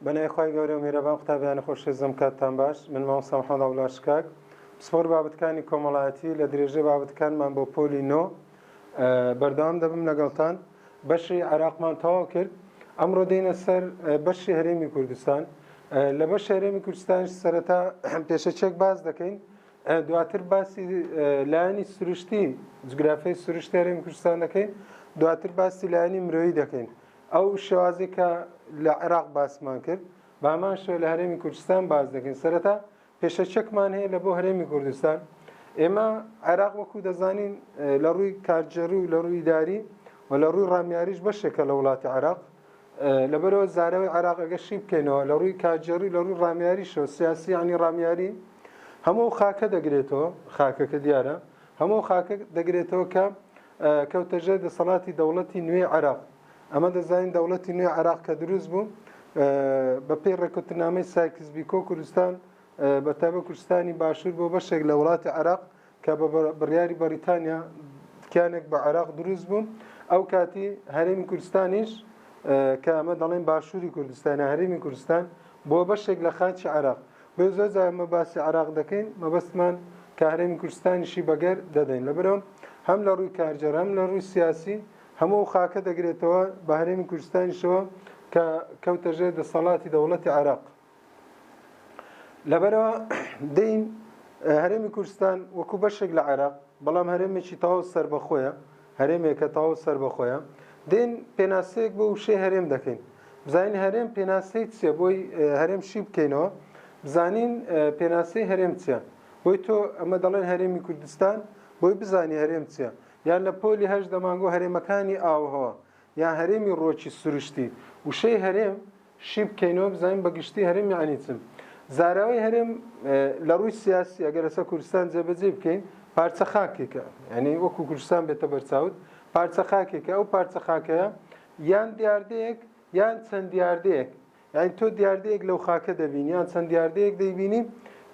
بەنای خی گەورە و میرەبان قوتابیانی خۆشێزم کاتتان باش من مامۆستا محەممەد عبدولاشکاک پسپۆر بابەتەکانی کۆمەڵایەتی لە درێژەی بابەتەکانمان بۆ پۆلی نۆ بەردەوام دەبم لەگەڵتان بەشی عێراقمان تەواو کرد ئەمڕۆ دێنە سەر بەشی هەرێمی کوردستان لە بەش هەرێمی کوردستان سەرەتا پێشەچێک باز دەکەین دواتر باسی لایەنی سروشتی جگرافی سروشتی هەرێمی کوردستان دەکەین دواتر باسی لایەنی مرۆیی دەکەین ئەو شێوازی کە لە عێراق باسمان کرد بامان شوێ لە هەرێمی کوردستان باز دەکەین سەرەتا پێشە چەکمان هەیە لە بۆ هەرێمی کوردستان ئێمە عێراق وەکو دەزانین لە ڕووی کارجێڕی و لە ڕووی داری و لە ڕووی ڕامیاریش بەشێکە لە وڵاتی عێراق لەبەرئەوە زاراوەی عێراق ئەگەر شی بکەینەوە لە ڕووی کارگێڕی لە ڕووی ڕامیاریشەوە سیاسی یعنی ڕامیاری هەموو ئەو خاکە دەگرێتەوە خاکەکە دیارە هەموو ئەو خاکە دەگرێتەوە کە کەوتە ژێر دەسەڵاتی دەوڵەتی نوێی عێراق ئەمە دەزانین دەوڵەتی نوێ عێراق کە دروست بوو بە پێی ڕێکوتنامەی سایکس بیکۆ کوردستان بە تابە کوردستانی باشوور بۆ بەشێک لە وڵاتی عێراق کە بە بڕیاری بەریتانیا تکیانێک بە عێراق دروست بوو ئەو کاتی هەرێمی کوردستانیش کە ئەمە دەڵێن باشووری کوردستان هەرێمی کوردستان بۆ بەشێک لە خاچی عراق بۆ زۆر زارمە باسی عراق دەکەین مەبەستمان کە هەرێمی کوردستانیشی بەگەر دەدەین لە برەوە هەم لە ڕووی کارجەر هەم لە ڕووی سیاسی هەموو ئەو خاکە دەگرێتەوە بە هەرێمی کوردستانیشەوە کە کەوتەژێ دەسەڵاتی دەوڵەتی عراق لەبەرەوە دەین هەرێمی کوردستان وەکو بەشێک لە عێراق بەڵام هەرێمێکی تەواو سربەخۆیە هەرێمێکە تەواو سربەخۆیە دێن پێناسەیەک بۆ وشەی هەرێم دەکەین بزانین هەرێم پێناسەی چیە بۆی هەرێم شی بکەینەوە بزانین پێناسەی هەرێم چیە بۆی تۆ ئەمە دەڵێن هەرێمی کوردستان بۆی بزانی هەرێم چیە یان لە پۆلی هەش دەمانگۆ هەرێمەکانی ئاوهەوە یان هەرێمی ڕۆکی سروشتی وشەی هەرێم شی بکەینەوە بزانین بە گشتی هەرێم یانی چ زاراوەی هەرێم لە ڕووی سیاسی ئەگەر لەسەر کوردستان جێبەجێ بکەین پارچە خاکێکە یعنی وەکو کوردستان بێتە بەرچاوت پارچە خاکێکە ئەو پارچە خاکەیە یان دیاردەیەک یان چەند دیاردەیەک یعنی تۆ دیاردەیەک لەو خاکە دەبین یان چەند دیاردەیەک دەیبینی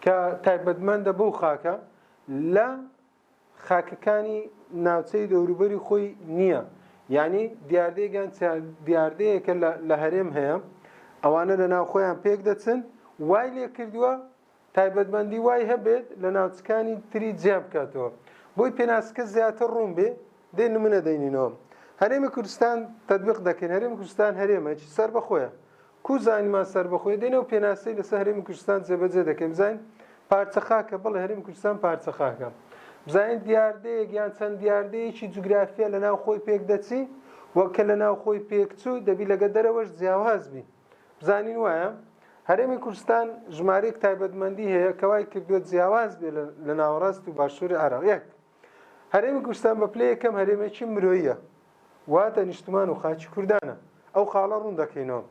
کە تایبەتمەندە بەو خاکە لە خاکەکانی ناوچەی دەوروبەری خۆی نییە یعنی دیاردەیەکیان دیاردەیەکە لە هەرێم هەیە ئەوانە لە ناو خۆیان پێک دەچن وای لێ کردووە تایبەتمەندی وای هەبێت لە ناوچەکانی تری جیا بکاتەوە بۆی پێناسکە زیاتر ڕوون بێ دێ نمونە دەینینەوە هەرێمی کوردستان تطبیق دەکەین هەرێمی کوردستان هەرێمە سەر بەخۆیە کو زاینمان سەربەخۆیە دێنێ و پێناسەی لەسە هەرێمی کوردستان جێبەجێ دەکەین بزاین پارچە خاکە بەڵێ هەرێمی کوردستان پارچە خاکە بزاین دیاردەیەک یان چەند دیاردەیەکی جوگرافیا لە ناو خۆی پێک دەچی وەک کە لە ناو خۆی پێک چوو دەبی لەگە دەرەوەش جیاواز بی بزانین وایە هەرێمی کوردستان ژمارەیەک تایبەتمەندی هەیە کەوای کردووە جیاواز بێ لە ناوەڕاست و باشووری عێراق یەک هەرێمی کوردستان بە پلەی یەکەم هەرێمێکی مرۆییە واتە نیشتمان و خاچی کوردانە ئەو خاڵە ڕوون دەکەینەوە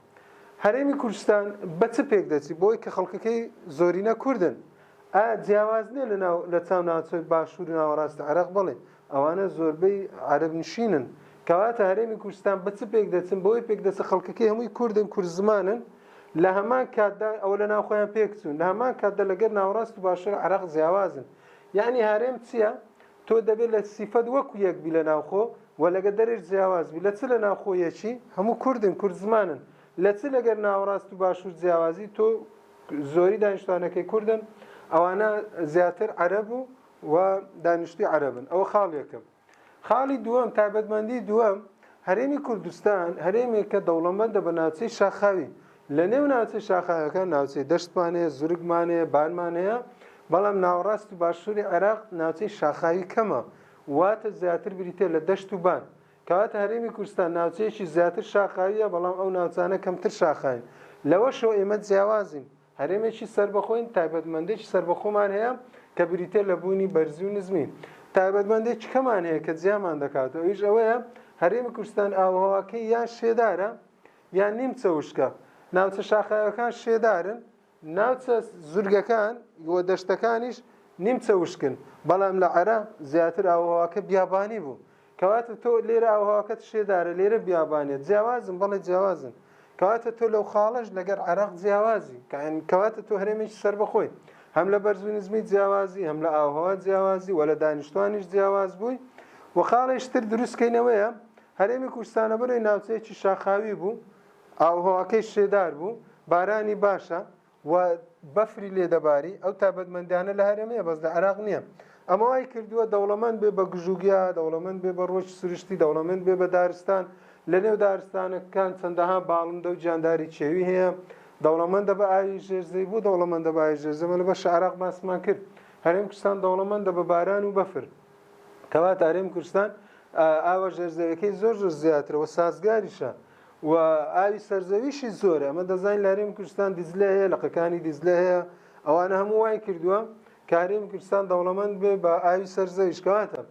هەرێمی کوردستان بە چ پێک دەچی بۆی کە خەڵکەکەی زۆرینە کوردن ئا جیاواز نیە لە ناو لە چاو ناوچەی باشوور و ناوەڕاست عێراق بڵێ ئەوانە زۆربەی عەرب نشینن کەواتە هەرێمی کوردستان بە چ پێک دەچن بۆی پێک دەچە خەڵکەکەی هەمووی کوردن کورد زمانن لە هەمان کاتدا ئەوە لە ناوخۆیان پێکچوون لە هەمان کاتدا لەگەر ناوەڕاست و باشوور عێراق جیاوازن یەعنی هەرێم چیە؟ تۆ دەبێت لە سیفەت وەکو یەک بی لە ناوخۆ و لەگە دەرێش جیاواز بی لە چ لە ناوخۆ یەکی هەموو کوردن کورد زمانن لە چ لەگەر ناوەڕاست و باشوور جیاوازی تۆ زۆری دانیشتوانەکەی کوردن ئەوانە زیاتر عەرەب و و دانیشتوی عەرەبن ئەوە خاڵ یەکەم خاڵی دووەم، تایبەتمەندی دووەم، هەرێمی کوردستان هەرێمێکە دەوڵەمەندە بە ناوچەی شاخاوی، لە نێو ناوچەی شاخاویەکان ناوچەی دەشتمان هەیە، زورگمان هەیە، بارمان هەیە، بەڵام ناوەڕاست و باشووری عێراق ناوچەی شاخاوی کەمە، واتە زیاتر بریتیە لە دەشت و بان، کەواتە هەرێمی کوردستان ناوچەیەکی زیاتر شاخاویە، بەڵام ئەو ناوچانە کەمتر شاخاوین، لەوەشەوە ئێمە جیاوازین. هەرێمێکی سەربەخۆین، تایبەتمەندێکی سەربەخۆمان هەیە کە بریتیە لە بوونی بەرزی و نزمی. تایبەتمەندێکی کەمان هەیە کە جیامان دەکاتەوە ئەویش ئەوەیە هەرێمی کوردستان ئاووهەواکەی یان شێدارە یان نیمچە وشکە، ناوچە شاخاویەکان شێدارن، ناوچە زورگەکان و دەشتەکانیش نیمچە وشکن، بەڵام لە عەرە زیاتر ئاووهەواکە بیابانی بوو، کەواتە تۆ لێرە ئاوهەواکەت شێدارە لێرە بیابانێت جیاوازن بەڵێ جیاوازن کەواتە تۆ لەو خاڵش لەگەر عراق جیاوازی کەواتە تۆ هەرێمێکی سەر بەخۆی هەم لە بەرزونزمی جیاوازی هەم لە ئاوهەوا جیاوازی و لە دانیشتوانیش جیاواز بووی و خاڵێشتر دروستکەینەوەیە هەرێمی کوردستانە بەرەی ناوچەیەکی شاخاوی بوو ئاوهەواکەی شێدار بوو بارانی باشە و بەفری لێ دەباری ئەو تابەتمەندانە لە هەرێمەیە بەس لە عراق نییە ئەمە وای کردووە دەوڵەمەند بێ بە گژوگیا دەوڵەمەند بێ بە ڕۆژ سروشتی دەوڵەمەند بێ بە دارستان لە نێو دارستانەکان چەندەها باڵندە و جانداری چێوی هەیە دەوڵەمەندە بە ئاوی ژێرزەی بوو دەوڵەمەندە بە ئاوی ژێرزەمە لە بە شعراق باسمان کرد هەرێم کوردستان دەوڵەمەندە بە باران و بەفر کەواتە هەرێم کوردستان ئاوە ژێرزەوەکەی زۆر زۆر زیاترەوە سازگاریشە و ئاوی سەرزەویشی زۆر ئەمە دەزانین لاریم کوردستان دیزلە هەیە لەقەکانی دیزلە هەیە ئەوانە هەموو وای کردووە کاریم کوردستان دەوڵەمەند بێ بە ئاوی سەرزەویش کەواتە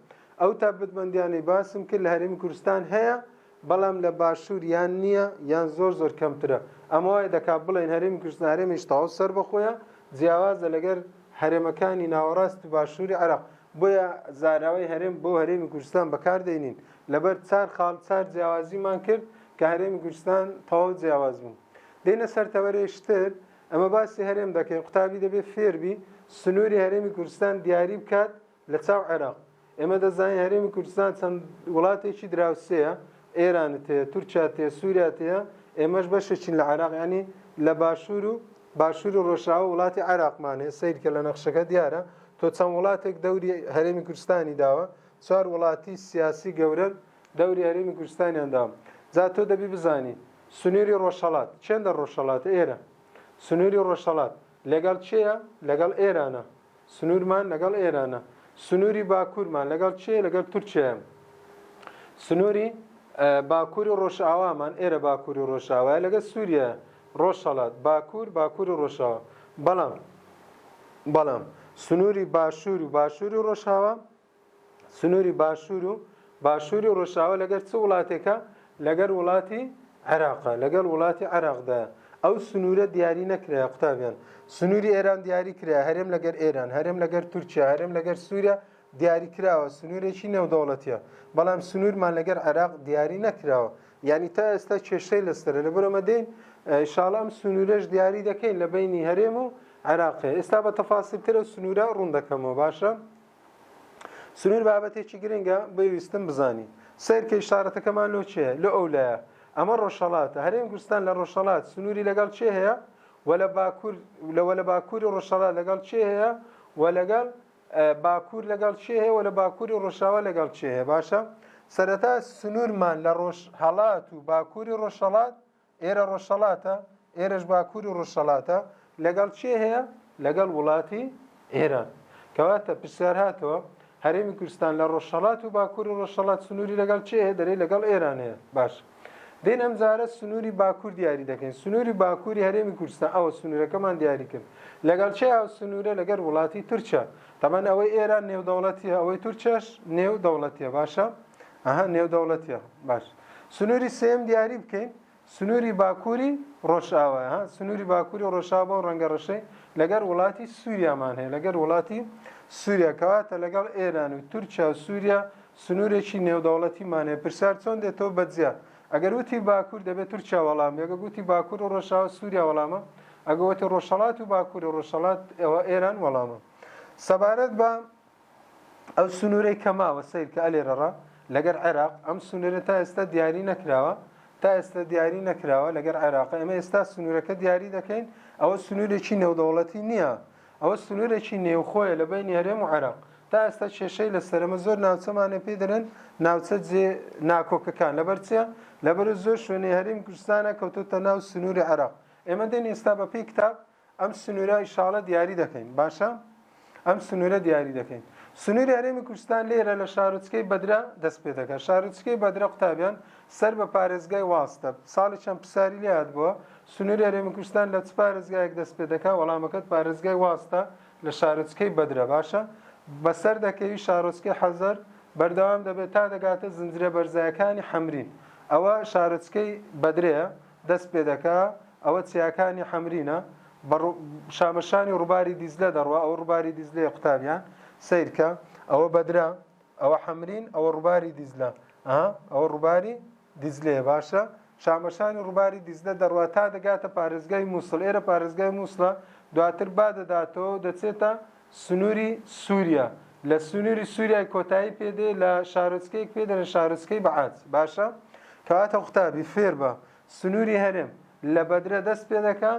ئەو تابەتمەندیانەی باسم کرد لە هەرمی کوردستان هەیە بەڵام لە باشوور یان نییە یان زۆر زۆر کەمترە ئەمە وای دەکا بڵێن هەرمی کوردستان هەرێمیش تاو سەر بەخۆیە جیاوازە لەگەر هەرێمەکانی ناوەڕاست و باشووری عراق بۆیە زاراوی هەرێم بۆ هەرێمی کوردستان بەکاردێنین لەبەر چار خاڵ چار جیاوازیمان کرد کە هەرێمی کوردستان تەواو جیاواز بوو دێنە سەر تەوەرەی شتر ئەمە باسی هەرێم دەکەین قوتابی دەبێت فێربی سنووری هەرێمی کوردستان دیاری بکات لە چاو عێراق ئێمە دەزانین هەرێمی کوردستان چەند وڵاتێکی دراوسەیە ئێرانت هەیە تورکیا تێ سووریا تەیە ئێمەش بەشێکین لە عراق ینی لە باشوور و باشوور و ڕۆژاوە وڵاتی عراقمانێ سیرکە لە نەخشەکە دیارە تۆ چەند وڵاتێک دەوری هەرێمی کوردستانی داوە چوار وڵاتی سیاسی گەورە دەوری هەرێمی کوردستانیان داوە جا تۆ دەبی بزانی سنوری ڕۆژهەڵات چێن دە ڕۆژهەڵات ئێرە سنوری ڕۆژهەڵات لەگەڵ چێە لەگەڵ ئێرانە سنورمان لەگەڵ ئێرانە سنوری باکوورمان لەگەڵ چێ لەگەڵ تورکیایە سنوری باکووری ڕۆژاوامان ئێرە باکووری ڕۆژاوایە لەگە سووریە ڕۆژهڵات باکوور باکووری ڕۆژاوە بەڵام بەڵام سنووری باشوور و باشووری ڕۆژاوە سنوری باشور و باشوری ڕۆژاوا لەگەر چ وڵاتێکە لەگەر وڵاتی عێراقە لەگەڵ وڵاتی عێراقدایە ئەو سنوورە دیاری نەکرای قوتابیان سنووری ئێران دیاری کرا هەرێم لەگەر ئێران هەرێم لەگەر تورکیا هەرێم لەگەر سووریا دیاری کراوە سنوورێکی نێودەوڵەتیە بەڵام سنوورمان لەگەر عێراق دیاری نەکراوە یعنی تا ئێستا کێشەی لەسەر لە بەرەمە دێن شاڵام سنوورەش دیاری دەکەین لە بینی هەرێم و عێراقی ئێستا بە تەفاسیلترە سنوورە ڕوون دەکەمەوە باشە سنوور بابەتێکی گرنگە بۆی ویستم بزانی سەیرکەی شارەتەکەمان لۆ چێ لۆ ئەو لایە ئەمە ڕۆژهەڵاتە هەرێم گوستان لە ڕۆژهەڵات سنووری لەگەڵ چێ هەیە و لە باکوور لەوە لە باکووری ڕۆژهەڵات لەگەڵ چێ هەیە و لەگەڵ باکوور لەگەڵ چێ هەیە و لە باکووری ڕۆژاوا لەگەڵ چێ هەیە باشە سەرەتا سنوورمان لە ڕۆژ هەڵات و باکووری ڕۆژهەڵات ئێرە ڕۆژهەڵاتە، ئێرەش باکوور و ڕۆژهەڵاتە، لەگەڵ کێ هەیە؟ لەگەڵ وڵاتی ئێران. کەواتە پرسیار هاتەوە، هەرێمی کوردستان لە ڕۆژهەڵات و باکووری ڕۆژهەڵات سنووری لەگەڵ کێ هەیە؟ دەرێ لەگەڵ ئێران هەیە. باش. دێن ئەم جارە سنووری باکوور دیاری دەکەین. سنووری باکووری هەرێمی کوردستان ئەوە سنوورەکەمان دیاری کرد. لەگەڵ کێ ئەو سنوورە؟ لەگەڵ وڵاتی تورکیا. تەبەن ئەوەی ئێران نێودەوڵەتیە، ئەوەی تورکیاش نێودەوڵەتیە. باشە؟ ئەها نێودەوڵەتیە. باش. سنووری سێیەم دیاری بکەین سنووری باکووری ڕۆژئاوا ها سنووری باکووری ڕۆژاوا بۆ ڕەنگە ڕەشەی لەگەر وڵاتی سووریامان هەیە لەگەر وڵاتی سووریا کەواتە لەگەڵ ئێران و تورکیا و سووریا سنوورێکی نێودەوڵەتیمان هەیە پرسیار چۆن دێتەوە بەجیا ئەگەر وتی باکوور دەبێت تورکیا وەڵام ئەگە گوتی باکوور و ڕۆژاوا سووریا وەڵامە ئەگەوتی ڕۆژهڵات و باکووری ڕۆژهڵات ئێوە ئێران وەڵامە سەبارەت بە ئەو سنورەی کە ماوە سەیرکە ئەلێرەڕا لەگەر عێراق ئەم سنورە تا ئێستا دیاری نەکراوە تا ئێستا دیاری نەکراوە لەگەر عێراق ئێمە ئێستا سنورەکە دیاری دەکەین ئەوە سنورێکی نێودەوڵەتی نییە ئەوە سنورێکی نێوخۆیە لە بینی هەرێم و عێراق تا ئێستا کێشەی لە سەرمە زۆر ناوچەمانێ پێ دەرێن ناوچە جێ ناکۆکەکان لەبەر چیە لەبەر زۆر شوێنی هەریم کوردستانە کەوتوتە ناو سنووری عێراق ئێمە دێن ئێستا بە پێی کتاب ئەم سنورە ئیشاڵە دیاری دەکەین باشە ئەم سنورە دیاری دەکەین سنوری هەرێمی کوردستان لێرە لە شارۆچکەی بەدرە دەست پێ دەکات شارۆچکەی بەدرە قوتابیان سەر بە پارێزگای واستە ساڵی چەند پرسیاری لات بووە سنووری هەرێمی کوردستان لە چ پارێزگایەک دەست پێ دەکات وەڵامەکەت پارێزگای واستە لە شارۆچکەی بەدرە باشە بەسەر دەکەوی شارۆچکەی حەزەر بەردەوام دەبێت تا دەگاتە زنجرە بەرزایەکانی حەمرین ئەوە شارۆچکەی بەدرەیە دەست پێ دەکا، ئەوە چیاکانی حەمرینە، بە ڕوو، شامەشانی ڕووباری دیجلە دەڕوا، ئەوە ڕووباری دیجلەیە قوتابیان، سەیر کە، ئەوە بەدرە، ئەوە حەمرین، ئەوە ڕووباری دیجلە، ئا، ئەوە ڕووباری دیجلەیە، باشە، شامەشانی ڕووباری دیجلە دەڕوا تا دەگاتە پارێزگای مووسڵ، ئێرە پارێزگای مووسڵە، دواتر با دەداتەوە و دەچێتە، سنووری سووریا، لە سنووری سووریای کۆتایی پێ دێ لە شارۆچکەیەک پێ دەرێن شارۆچکەی بەعات باشە کەواتە قوتابی فێر بە سنووری هەرێم لە بەدرە دەست پێ دەکا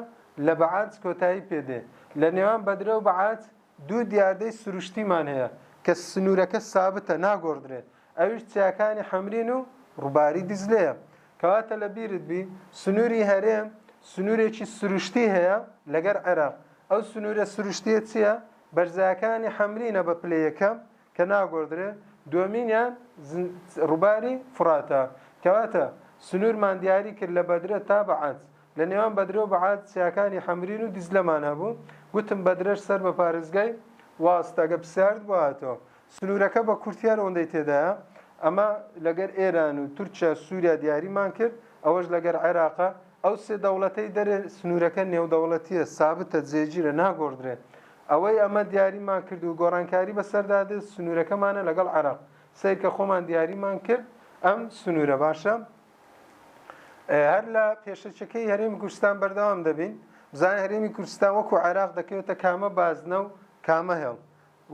لە بەعات کۆتایی پێ دێ لە نێوان بەدرە و بەعات دوو دیاردەی سروشتیمان هەیە کە سنوورەکە سابتە ناگۆڕدرێ ئەویش چیاکانی حەمرین و ڕووباری دیجلەیە. کەواتە لە بیرت بی سنووری هەرێم سنوورێکی سروشتی هەیە لەگەر عێراق. ئەو سنوورە سروشتییە چییە؟ بەرزایەکانی حەمرینە بە پلەی یەکەم کە ناگۆڕدرێ، دووەمینیان ڕووباری فوراتە. کەواتە سنوورمان دیاری کرد لە بەدرە تا بەعەج. لە نێوان بەدرە و بەعەج چیاکانی حەمرین و دیجلەمان هەبوو. گوتم بەدرەش سەر بە پارێزگای واست ئەگەر پرسیارت بۆ هاتەوە. سنوورەکە بە کورتیی ئەوەندەی تێدایە ئەمە لەگەر ئێران و تورکیا و سووریا دیاریمان کرد، ئەوەش لەگەر عێراقە، ئەو سێ دەوڵەتەی دەرێ سنوورەکە نێودەوڵەتییە، سابتە، جێگیرە، ناگۆڕدرێ. ئەوەی ئەمە دیاریمان کرد و گۆڕانکاری بەسەردا دێت سنوورەکەمانە لەگەڵ عێراق. سەیرکە خۆمان دیاریمان کرد ئەم سنوورە باشە. هەر لە پێشەکییەکەی هەرێمی کوردستان بەردەوام دەبین. بزانین هەرێمی کوردستان وەکوو عێراق دەکەوێتە کامە بازنە و کامە هێڵ.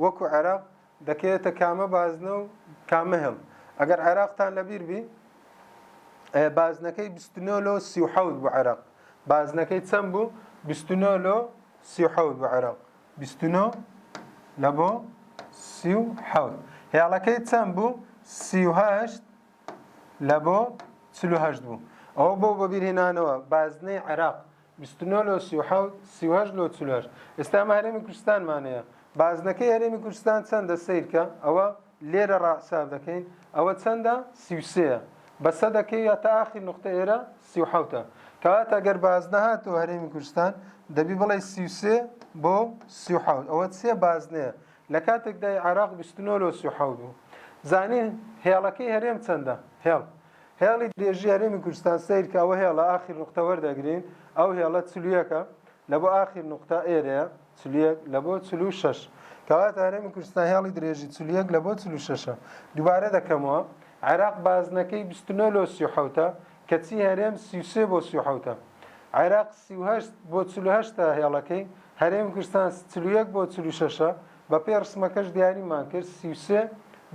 وەکو عێراق دەکەوێتە کامە بازنە و کامە هێڵ؟ ئەگەر عێراقتان لەبیر بی بازنەکەی بیست و نۆ لۆ سی و حەوت بوو عێراق بازنەکەی چەند بوو بیست و نۆ لۆ سی و حەوت بوو عێراق بیست و نۆ لە بۆ سی و حەوت هێڵەکەی چەند بوو سی و هەشت لە بۆ چل و هەشت بوو ئەوە بۆ بەبیرهێنانەوە بازنەی عێراق بیست و نۆ لۆ سی و حەوت سی و هەشت لۆ چل و هەشت ئێستا ئەمە هەرێمی کوردستانمان هەیە بازنەکەی هەرێمی کوردستان چەندە سیرکە ئەوە لێرە ڕاحساب دەکەین ئەوە چەندە سی و سێە بە سەدەکەی یا تا ئاخیر نقطە ئێرە سی و حەوتە کەواتە گەر بازنە هاتەوە هەرێمی کوردستان دەبی بڵێ سی و سێ بۆ سی و حەوت ئەوە سێ بازنەیە لە کاتێکدای عراق بیست و نۆ لۆ سی و حەوت بوو زانین هێڵەکەی هەرێم چەندە هێڵ هێڵی درێژی هەرێمی کوردستان سەیرکە ئەوە هێڵە ئاخیر نوقتە وەردەگرین ئەو هێڵە چلویەکە لە بۆ ئاخیر نوقتە ئێرەیە چلیەک لە بۆ چل و شەش کەواتە هەرێمی کوردستان هێڵی درێژی چلیەک لە بۆ چل و شەشە دووبارە دەکەمەوە عێراق بازنەکەی 29 لۆ سی حوتە کەچی هەرێم سیوسێ بۆ سی حوتە عێراق سیهشت بۆ چلوهشتا هێڵەکەی هەرێمی کوردستان چلویەک بۆ چلوشەشە بەپێی ڕسمەکەش دیاریمان کرد سی و سێ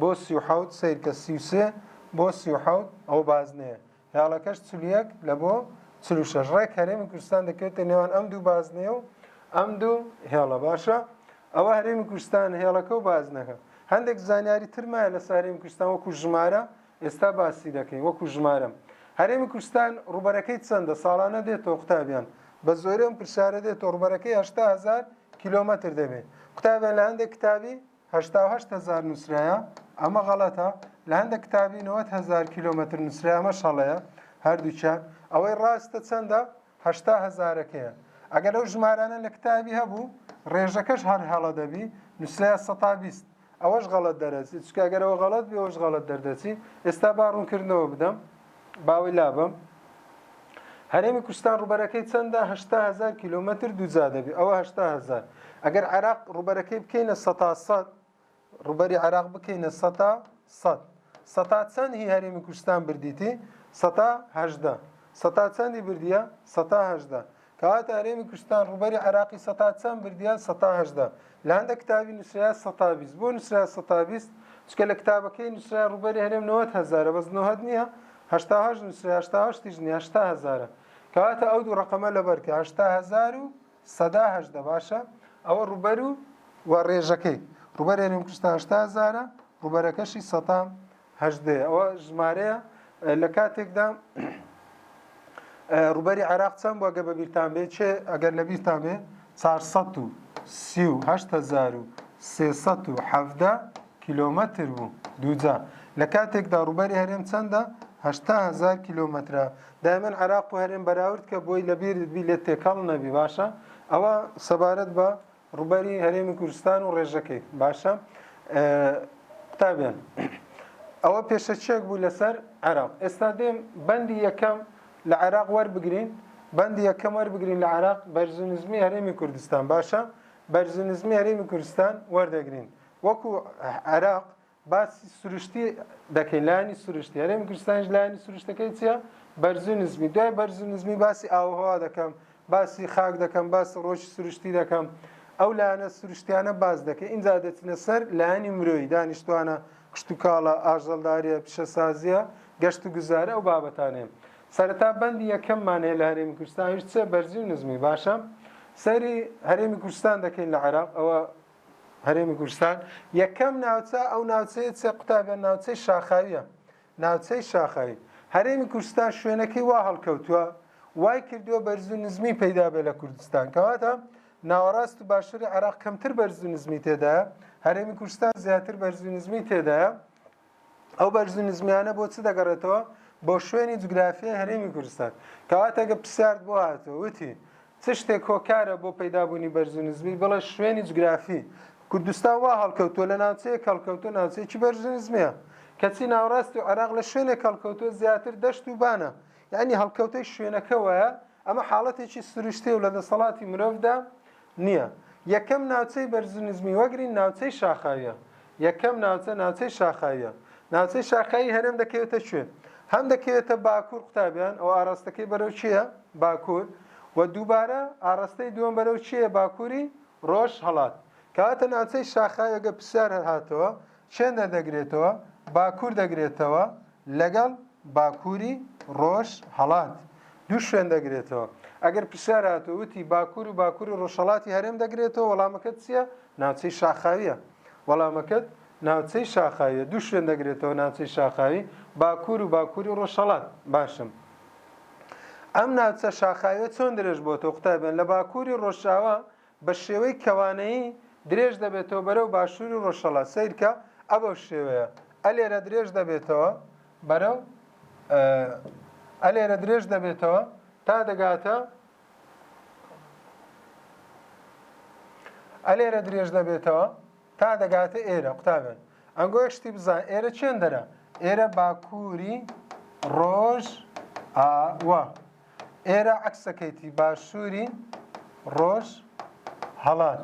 بۆ سی و حەوت سەیرکە سی و سێ بۆ سی و حەوت ئەو بازنەیە هێڵەکەش چل و یەک لە بۆ چل و شەش ڕێک هەرێمی کوردستان دەکەوێتە نێوان ئەم دوو بازنەیە و ئەم دوو هێڵە باشە ئەوە هەرێمی کوردستان هێڵەکە و بازنەکە هەندێک زانیاری ترمایە لە سارێمی کوردستان وەکو ژمارە ئێستا باسی دەکەین وەکو ژمارەم. هەرێمی کوردستان ڕووبەرەکەی چەندە؟ ساڵانە دێتەوە قوتابیان؟ بە زۆری ئەم پرسیارە دێتەوە ڕووبەرەکەی هەشتا هەزار کیلۆمەتر دەبێ قوتابیان لە هەندێک کتابی هەشتا و هەشت هەزار نووسرایە ئەمە غەڵەتە لە هەندێک کتابی نەوەد هەزار کیلۆمەتر نووسرا ئەمەش هەڵەیە هەردووکیان ئەوەی ڕاستە چەندە هەشتا هەزارەکەیە ئەگەر ئەو ژمارانە لە کتابی هەبوو ڕێژەکەش هەر هەڵە دەبی نووسرایە سەتا بیست ئەوەش غەڵەت دەرەچی چکە گەر ئەوە غەڵەت بێ ئەوەش غەڵەت دەردەچی ئێستا با ڕوونکردنەوە بدەم باوەی لابم هەرێمی کوردستان ڕوبەرەکەی چەندە هشتا هزار کیلومتر دووجا دەبی ئەوە هشتا هزار ئەگەر عێراق ڕوبەرەکەی بکەینە سەتا سەد ڕوبەری عێراق بکەینە سەتا سەد سەتا چەند هی هەرێمی کوردستان بردیتی سەتا هەژدە سەتا چەندی بردیە سەتا هەژدە تاهات هەرێمی کوردستان ڕووبەری عێراقی سەتا چەند بردیە؟ سەتا هەژدە. لە هەندێک کتابی نووسرایە سەتا بیست. بۆ نووسرایە سەتا بیست؟ چونکە لە کتابەکەی نووسرایە ڕووبەری هەرێم نەوەد هەزارە بەس نۆهەد نییە، هەشتا و هەشت نووسرایە هەشتا و هەشتیش نییە هەشتا هەزارە. کەواتە ئەو دوو ڕەقەمە لەبەر کە، هەشتا هەزار و سەدا هەژدە باشە؟ ئەوە ڕووبەر و ڕێژەکەی. ڕووبەری هەرێمی کوردستان هەشتا هەزارە، ڕووبەرەکەشی سەتا هەژدەیە ئەوە ژمارەیە لە کاتێکدا ڕوبەری عێراق چەند بووە گە بە بیرتان بێ چێ ئەگەر لە بیرتان بێ 438 کیلومتر بوو دووجا لە کاتێکدا ڕوبەری هەرێم چەندە هزار کیلومترە دایمەن عراق و هەرێم بەراورد کە بۆی لەبیرت بی لێ تێکەڵ نەبی باشە ئەوە سەبارەت بە ڕوبەری هەرێمی کوردستان و ڕێژەکەی باشە قوتابیان ئەوە پێشەچێک بوو لەسەر عێراق ئێستا دێم بەندی یەکەم لە عێراق وەربگرین بەندی یەکەم وەربگرین لە عێراق بەرزنزمی هەرێمی کوردستان باشە بەرزنزمی هەرێمی کوردستان وەردەگرین وەکو عێراق باسی سروشتی دەکەین لایانی سروشتی هەرێمی کوردستانیش لایانی سروشتەکەی چیە بەرزو نزمی دوای بەرزو نزمی باسی ئاوهوا دەکەم باسی خاک دەکەم باسی ڕۆژی سروشتی دەکەم ئەو لایەنە سروشتیانە باز دەکەین اینجا دەچنە سەر لایانی مرۆیی دانیشتوانە کشتتوکاڵە ئاژەڵداریە پیشەسازیە گەشت و گوزارە ئەو بابەتانێن سەرەتا بەندی یەکەممان هەیە لە هەرێمی کوردستانیش چێ بەرزی و نزمی باشە سەری هەرێمی کوردستان دەکەین لە عێراق ئەوە هەرێمی کوردستان یەکەم ناوچە ئەو ناوچەیە چێ قوتابیان ناوچەی شاخاویە ناوچەی شاخاوی هەرێمی کوردستان شوێنەکەی وا هەڵکەوتووە وای کردووە بەرز و نزمی پەیدا بێ لە کوردستان کەواتە ناوەڕاست و باشووری عێراق کەمتر بەرز و نزمی تێدایە هەرێمی کوردستان زیاتر بەرز و نزمی تێدایە ئەو بەرز و نزمیانە بۆ چ دەگەڕێتەوە بۆ شوێنی جوگرافیای هەرێمی کوردستان کەواتە گە پرسیارت بۆ هاتەوە وتی چ شتێک کۆکارە بۆ پەیدابوونی بەرز و نزمی بڵێ شوێنی جوگرافی کوردستان وا هەڵکەوتووە لە ناوچەیە کەڵکەوتو ناوچەیەکی بەرز و نزمیە کەچی ناوڕاست و عێراق لە شوێنێک کەڵکەوتوە زیاتر دەشت و بانە یعنی هەڵکەوتەی شوێنەکەوەیە ئەمە حاڵەتێکی سروشتێ و لە دەسەڵاتی مرۆڤدا نییە. یەکەم ناوچەی بەرزو نزمی وەگرین ناوچەی شاخاویە. یەکەم ناوچە ناوچەی شاخاویە. ناوچەی شاخاوی هەرێم دەکەوێتە کوێ؟ هەم دەکەوێتە باکور قوتابیان ئەوە ئاراستەکەی بەرەو کوێیە؟ باکور. وە دووبارە ئاراستەی دووەم بەرەو کوێیە باکوری ڕۆژ هەڵات. کەواتە ناوچەی شاخاوی ئەگەر پرسیار هەر هاتەوە کێندەر دەگرێتەوە، باکوور دەگرێتەوە لەگەڵ باکووری ڕۆژهەڵات. دوو شوێن دەگرێتەوە. ئەگەر پرسیار هاتوو وتی باکوور و باکووری ڕۆژهەڵاتی هەرێم دەگرێتەوە وەڵامەکەت چییە؟ ناوچەی شاخاوییە. وەڵامەکەت ناوچەی شاخاوییە. دوو شوێن دەگرێتەوە ناوچەی شاخاوی، باکوور و باکووری ڕۆژهەڵات. باشە. ئەم ناوچە شاخاوییە چۆن درێژ بۆتەوە؟ قوتابیان، لە باکووری ڕۆژاوا بە شێوەی کەوانەیی درێژ دەبێتەوە بەرەو باشووری ڕۆژهەڵات، سەیرکە، ئە بەو شێوەیە، ئە لێرە درێژ دەبێتەوە بەرەو، ئە لێرە درێژ دەبێتەوە تا دەگاتە، ئە لێرە درێژ دەبێتەوە تا دەگاتە ئێرە قوتابێن. ئەنگۆ یەک شتی بزان ئێرە چێندەرە، ئێرە باکووری ڕۆژ ئاوە. ئێرە عەکسەکەیتی باشووری ڕۆژ هەڵات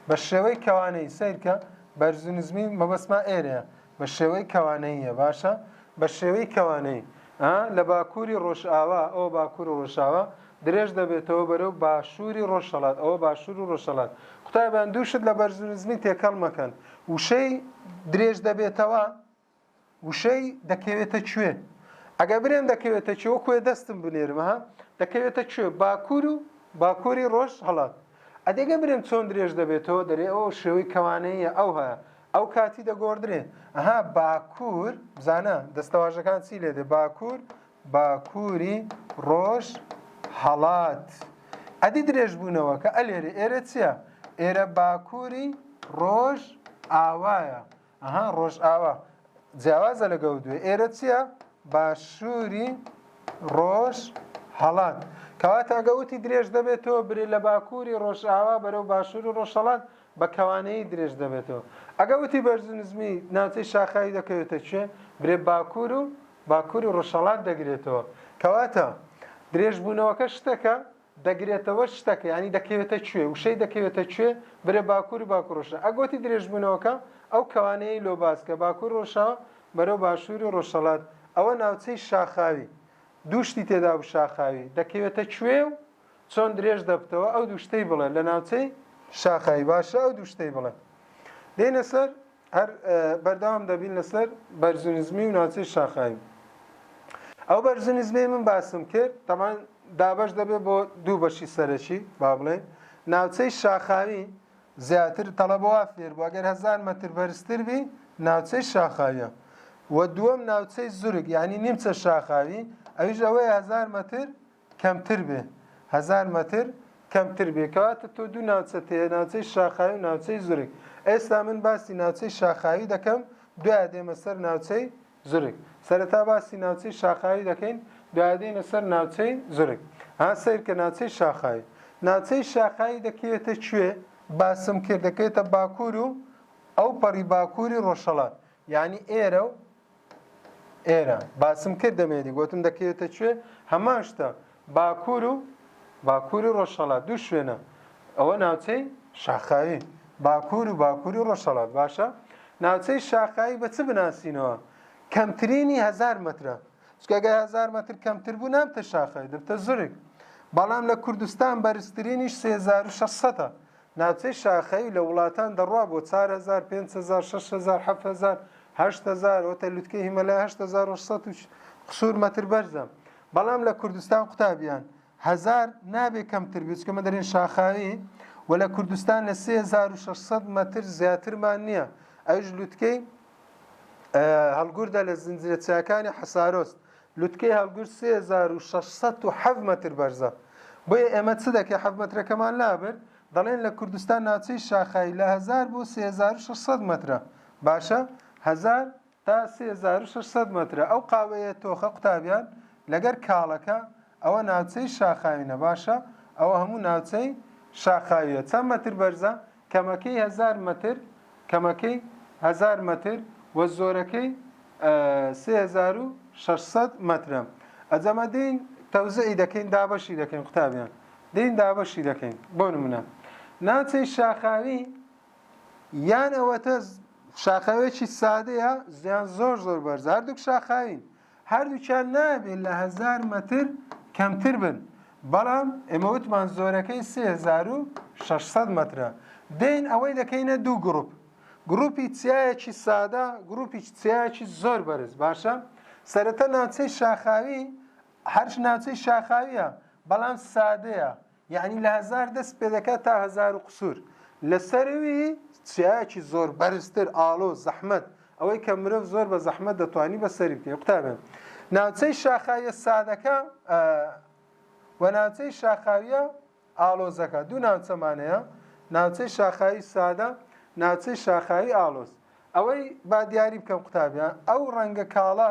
بە شێوەی کەوانەی سیرکە بەرزو نزمی مەبەسما ئێرەیە بە شێوەی کەوانەیە باشە بە شێوەی کەوانەی لە باکووری ڕۆژئاوا ئەو باکوور و ڕۆژاوا درێژ دەبێتەوە بەرەو باشووری ڕۆژەڵات ئەوە باشوور و ڕۆژەڵات قوتابیان دووشت لە بەرزو نزمی تێکەڵ مەکەن وشەی درێژ دەبێتەوە وشەی، دەکەوێتە کوێ، ئەگەر برێم دەکەوێتە کوێ وەکوێ دەستم بنێرم ها، دەکەوێتە کوێ، باکوور و باکووری ڕۆژهەڵات. ئەدی گەر برێم چۆن درێژ دەبێتەوە، دەرێ ئۆ شێوەی کەوانەییە ئەوها، ئەو کاتی دەگۆڕدرێ. ئەها باکوور، بزانە دەستەواژەکان چی لێ دێ، باکوور، باکووری ڕۆژهەڵات. ئەدی درێژ بوونەوەکە، ئەلێرێ، ئێرە چییە؟ ئێرە باکووری ڕۆژئاوایە. ئەها ڕۆژئاوا جیاوازە لە گەوردوێ ئێرە چییە باشووری ڕۆژ هەڵات کەواتە گەوتی درێژ دەبێتەوە برێ لە باکووری ڕۆژئاوا بەرەو باشووری ڕۆژهڵات بە کەوانەیی درێژ دەبێتەوە ئەگە وتی بەرزنزمی ناوچەی شاخاوی دەکەوێتە کوێ برێ باکوور و باکووری ڕۆژهڵات دەگرێتەوە کەواتە درێژبوونەوەکە شتەکە دەگرێتەوە شتەکە یانی دەکەوێتە کوێ وشەی دەکەوێتە کوێ برێ باکوور و باکوور ڕۆژ ئەگۆتی درێژبوونەوەکە ئەو کەوانەیەی لۆ باس کە باکوور ڕۆژاوە بەرەو باشوور و ڕۆژهەڵات ئەوە ناوچەی شاخاوی دوو شتی تێدابوو شاخاوی دەکەوێتە کوێ و چۆن درێژ دەبتەوە ئەو دوو شتەی بڵێ لە ناوچەی شاخاوی باشە ئەو دوو شتەی بڵێ دێنە سەر هەر بەردەوام دەبین لەسەر بەرزونزمی و ناوچەی شاخاوی ئەو بەرزونزمی من باسم کرد تەمان دابش دەبێت بۆ دوو بەشی سەرەکی با بڵێن ناوچەی شاخاوی زیاتر تەڵەبەوە فێر بوو ئەگەر هەزار مەتر بەرزتر بی ناوچەی شاخاویە و دووەم ناوچەی زورگ یعنی نیمچە شاخاوی ئەویش ئەوەیە هەزار مەتر کەمتر بێ هەزار مەتر کەمتر بێ کەواتە تۆ دوو ناوچەت هەیە ناوچەی شاخاوی و ناوچەی زورگ ئێستا من باسی ناوچەی شاخاوی دەکەم دوایە دێمە سەر ناوچەی زورگ سەرەتا باسی ناوچەی شاخاوی دەکەین دوایە دێینە سەر ناوچەی زورگ ها سەیرکە ناوچەی شاخاوی ناوچەی شاخاوی دەکەوێتە کوێ باسم کرد دەکەوێتە باکوور و ئەوپەڕی باکووری ڕۆژهەڵات یانی ئێرە و ئێرە باسم کرد دەمێدی گوتم دەکەوێتە کوێ هەمان شتە باکوور و باکوور و ڕۆژهەڵات دوو شوێنە ئەوە ناوچەی شاخاوی باکوور و باکوور و ڕۆژهەڵات باشە ناوچەی شاخاوی بە چ بناسینەوە کەمترینی هزار مترە چکەگە هزار متر کەمتر بوو نامتە شاخاوی دەبتە زرک بەڵام لە کوردستان بەرزترینیش 3600 ناوچەی شاخەیی لە وڵاتان دەڕوا بۆ چار هەزار، پێنج هەزار، شەش هەزار، حەفت هەزار، هەشت هەزار، وەتە لوتکەی هیمەلای هەشت هەزار و سەد و قسور مەتر بەرزە، بەڵام لە کوردستان قوتابیان، هەزار، نابێ کەمتر بێ، چونکە ئێمە دەرێن شاخاوی و لە کوردستان لە سێ هەزار و شەش سەد مەتر زیاترمان نییە، ئەویش لوتکەی هەڵگوردە لە زنجیرە چیاکانی حەسارۆست، لوتکەی هەڵگر سێ هەزار و شەش سەد و حەڤ مەتر بەرزە بۆیە ئێمە چ دەکەین حەڤ مەترەکەمان لابرد دەڵێن لە کوردستان ناوچەی شاخای لە هەزار بۆ سێ هەزار و شەش سەد مەترە باشە هەزار تا سێ هەزار و شەش سەد مەترە ئەو قاوەیە تۆخە قوتابیان لەگەر کاڵەکە ئەوە ناوچەی شاخاوینە باشە ئەوە هەموو ناوچەی شاخاویە چەند مەتر بەرزە کەمەکەی هەزار مەتر، کەمەکەی هەزار مەتر و زۆرەکەی سێ هەزار و شەش سەد مەترە. ئەجەمە دێین تەوزعی دەکەین، دابەشی دەکەین قوتابیان. دێین دابەشی دەکەین. بۆ نمونە ناوچەی شاخاوی یان ئەوەتە شاخاوێکی سادەیە یان زۆر زۆر بەرزە، هەردووک شاخاوین. هەردووکیان نابێت لە هەزار مەتر کەمتر بن، بەڵام ئێمە وتمان زۆرەکەی سێ هەزار و شەش سەد مەترە. دێین ئەوەی دەکەینە دوو گروپ، گروپی چیایەکی سادە، گروپی چیایەکی زۆر بەرز، باشە؟ سەرەتا ناوچەی شاخاوی، هەرچ ناوچەی شاخاوییە، بەڵام سادەیە، یەعنی لە هەزار دەست پێ دەکات تا هەزار و قسور لە سەروی چیایەکی زۆر بەرزتر ئاڵۆ زەحمەت ئەوەی کە مرۆڤ زۆر بە زەحمەت دەتوانی بە سەری بکەی قوتابیان ناوچەی شاخاویە سادەکە و ناوچەی شاخاویە ئاڵۆزەکە دوو ناوچەمانەیە ناوچەی شاخاوی سادە ناوچەی شاخاوی ئاڵۆز ئەوەی با دیاری بکەم قوتابیان ئەو ڕەنگە کاڵە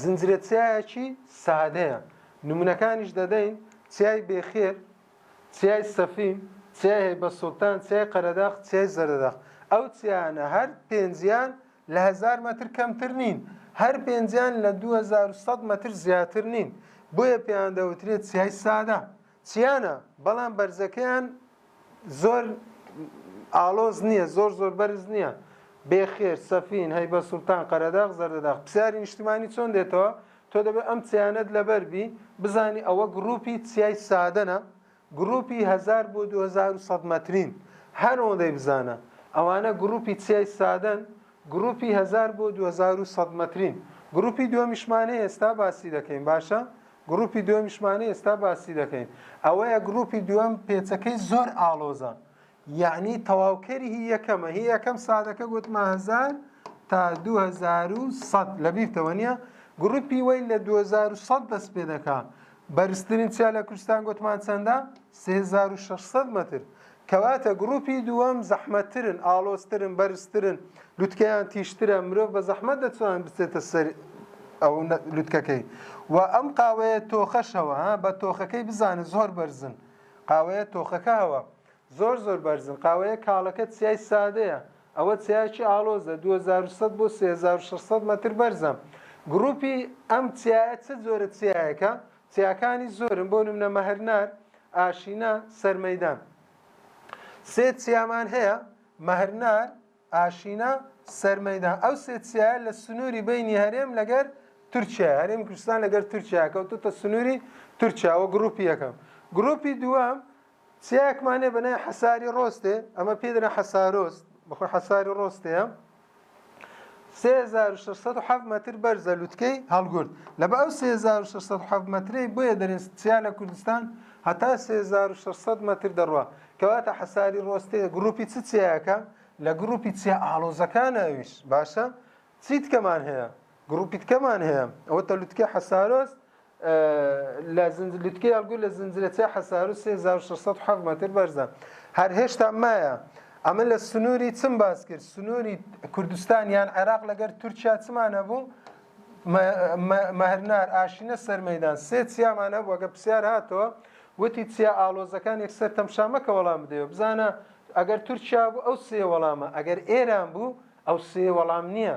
زنجرە چیایەکی سادەیە نمونەکانیش دەدەین چیای بێخێر چیای سەفین چیای هەیبە سوڵتان چیای قەرەداخ چیای زەردەداخ ئەو چیانە هەر پێنجیان لە هزار مەتر کەمتر نین هەر پێنجیان لە 2100 مەتر زیاتر نین بۆیە پێیان دەوترێت چیای سادە چیانە بەڵام بەرزەکەیان زۆر ئاڵۆز نییە زۆر زۆر بەرز نییە بێخێر سەفین هەیبە سوڵتان قەرەداغ زەردەداغ پرسیاری نیشتمانی چۆن دێتەوە تۆ دەبێت ئەم چیانەت لەبەربی بزانی ئەوە گروپی چیای سادەنە گروپی 1000 بۆ 2100 مەترین هەر ئەوەندەی بزانە ئەوانە گروپی چیای سادەن گروپی 1000 بۆ 2100 مەترین گروپی دووەمیشمانەیە ئێستا باسی دەکەین باشە گڕوپی دوەمیشمانە ئێستا باسی دەکەین ئەوەیە گڕوپی دوەم پێچەکەی زۆر ئاڵۆزە یەعنی تەواوکەری هی یەکەمە هی یەکەم سادەکە گوتمە هەزار تا دوو هەزار و سەد لەبیرتەوە نیە گڕوپی وەی لە دوو هەزار و سەد دەست پێ دەکا بەرزترین چیا لە کوردستان گوتمان چەندە سێ هەزار و شەش سەد مەتر کەواتە گڕوپی دووەم زەحمەتترن، ئاڵۆزترن، بەرزترن، لوتکەیان تیژترە، مرۆڤ بە زەحمەت دەتوانێت بچێتە سەر ئەو لوتکەکەی و ئەم قاوەیە تۆخەش هەوە ها بە تۆخەکەی بزانە زۆر بەرزن قاوەیە تۆخەکە هەوە زۆر زۆر بەرزن قاوەیە کاڵەکە چیای سادەیە ئەوە چیاکی ئاڵۆزە 2100 بۆ 3600 مەتر بەرزە گروپی ئەم چیایە چ جۆرە چیایەکە چیاکانی زۆرن بۆ نمونە مەهرنار، ئاشینا، سەرمەیدان. سێ چیامان هەیە، مەهرنار، ئاشینا، سەرمەیدان. ئەو سێ چیایە لە سنووری بینی هەرێم لەگەر تورکیا، هەرێمی کوردستان لەگەر تورکیا کەوتوتە سنووری تورکیا و گروپی یەکەم. گروپی دووەم چیایەکمان هەیە بە ناوی حەساری ڕۆستێ، ئەمە پێی دەرێن حەسارۆست، بەخۆی حەساری ڕۆستێیە، سێ هەزار و شەش سەد و حەفت مەتر بەرزە لوتکەی هەڵگورد، لەبە ئەو سێ هەزار و شەش سەد و حەفت مەترەی بۆیە دەرێن چیا لە کوردستان هەتا سێ هەزار و شەش سەد مەتر دەڕوا، کەواتە حەساری ڕۆستێ گڕوپی چ چیایەکە؟ لە گڕوپی چیا ئاڵۆزەکانە ئەویش، باشە چی دیکەمان هەیە؟ گڕوپیتکەمان هەیە ئەوە تە لوتکەی حەسارۆس لە زنج لوتکەی ئەلگو لە زنجرەچە حەسارو 3607 مەتر بەرزە هەر هێشتا مایە ئەمە لە سنووری چم باس کرد سنووری کوردستان یان عێراق لەگەر تورکیا چمان هەبوو مەهرنار ئاشینە سەرمەدان سێ چیامان هەبوو گە پرسیار هاتەوە وتی چیا ئالۆزەکان یەکسەر تەمشامەکە وەڵام بدەوە بزانە ئەگەر تورکیا بوو ئەو سێ وەڵامە ئەگەر ئێران بوو ئەو سێ وەڵام نییە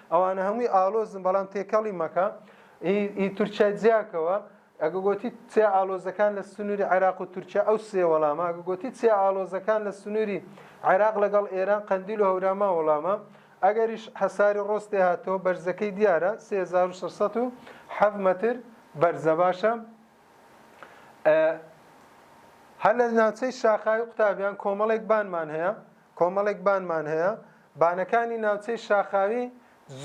ئەوانە هەمووی ئاڵۆزن بەڵام تێکەڵی مەکە ئی تورکیا جیاکەوە ئەگە گوتی چیا ئالۆزەکان لە سنووری عێراق و تورکیا ئەو سێ وەڵامە ئەگە گوتی چیا ئالۆزەکان لە سنووری عێراق لەگەڵ ئێران قەندیل و هەوراما وەڵامە ئەگەریش حەساری ڕۆستێ هاتەوە بەرزەکەی دیارە 3607 متر بەرزە باشە هەر لە ناوچەی شاخاوی قوتابیان کۆمەڵێک بانمان هەیە کۆمەڵێک بانمان هەیە، بانەکانی ناوچەی شاخاوی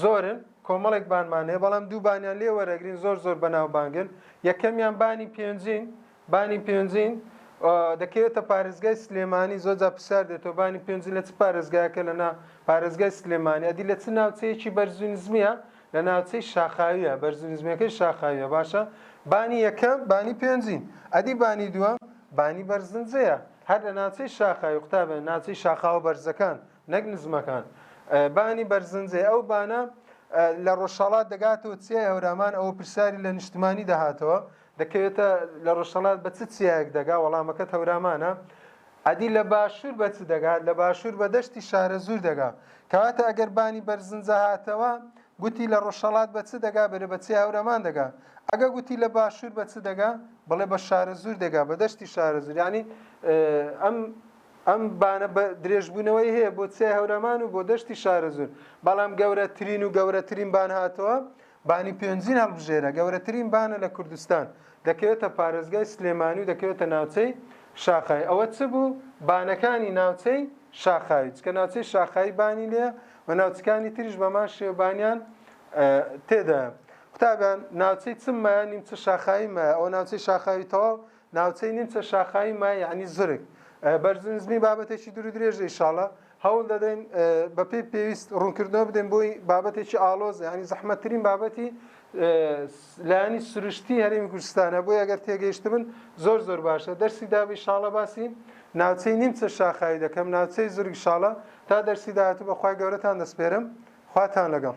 زۆرن، کۆمەڵێک بانمان هەیە، بەڵام دوو بانیان لێ وەرئەگرین زۆر زۆر بەناوبانگن، یەکەمیان بانی پێنجین، بانی پێنجین دەکەوێتە پارێزگای سلێمانی، زۆر جار پرسیار دێتەوە بانی پێنجین لە چ پارێزگایەکە لە نا پارێزگای سلێمانی، ئەدی لە چ ناوچەیەکی بەرزو نزمیە لە ناوچەی شاخاویە، بەرزو نزمیەکەی شاخاویە باشە، بانی یەکەم بانی پێنجین، ئەدی بانی دووەم بانی بەرزنجەیە، هەر لە ناوچەی شاخاوی، قوتابیان، ناوچەی شاخاوە بەرزەکان، نەک نزمەکان، بانی بەرزنجەی ئەو بانە لە ڕۆژهەڵات دەگاتەوە چیای هەورامان، ئەوە پرسیاری لە نیشتمانی دەهاتەوە، دەکەوێتە لە ڕۆژهەڵات بە چ چیایەک دەگا، وەڵامەکەت هەورامانە، ئەدی لە باشوور بە چ دەگا، لە باشوور بە دەشتی شارەزوور دەگا، کەواتە ئەگەر بانی بەرزنجە هاتەوە گوتی لە ڕۆژهەڵات بە چ دەگا؟ بەرێ بە چێ هەورەمان دەگا. ئەگە گوتی لە باشوور بە چ دەگا؟ بڵێ بە شارەزوور دەگا، بە دەشتی شارەزوور. یانی ئەم ئەم بانە بە درێژبوونەوەی هەیە بۆ چیای هەورەمان و بۆ دەشتی شارەزوور. بەڵام گەورەترین و گەورەترین بان هاتەوە، بانی پێنجوین هەڵبژێرە، گەورەترین بانە لە کوردستان. دەکەوێتە پارێزگای سلێمانی و دەکەوێتە ناوچەی شاخاوی. ئەوە چ بوو؟ بانەکانی ناوچەی شاخاوی. چونکە ناوچەی شاخاوی بانی لێیە، و ناوچەکانی تریش بە مان شێوبانیان تێدایە قوتابیان ناوچەی چم مایە نیمچە شاخایی مایە ئەو ناوچەی شاخاوی تەواو ناوچەی نیمچە شاخایی مایە ینی زرک بەرزنزمی بابەتێکی دوور درێژە ئیشاڵە هەوڵ دەدەین بەپی پێویست ڕوونکردنەوە بدەین بۆی بابەتێکی ئالۆز ینی زەحمەتترین بابەتی لایەنی سروشتی هەرێمی کوردستانە بۆی ئەگەر تێگەیشتبن زۆر زۆر باشە دەرسی دابی شاڵە باسی ناوچەی نیمچە شاخاوی دەکەم ناوچەی زورگ شاڵە تا دەرسی داهاتوو بەخوای گەورەتان دەسپێرم خواتان لەگەڵ.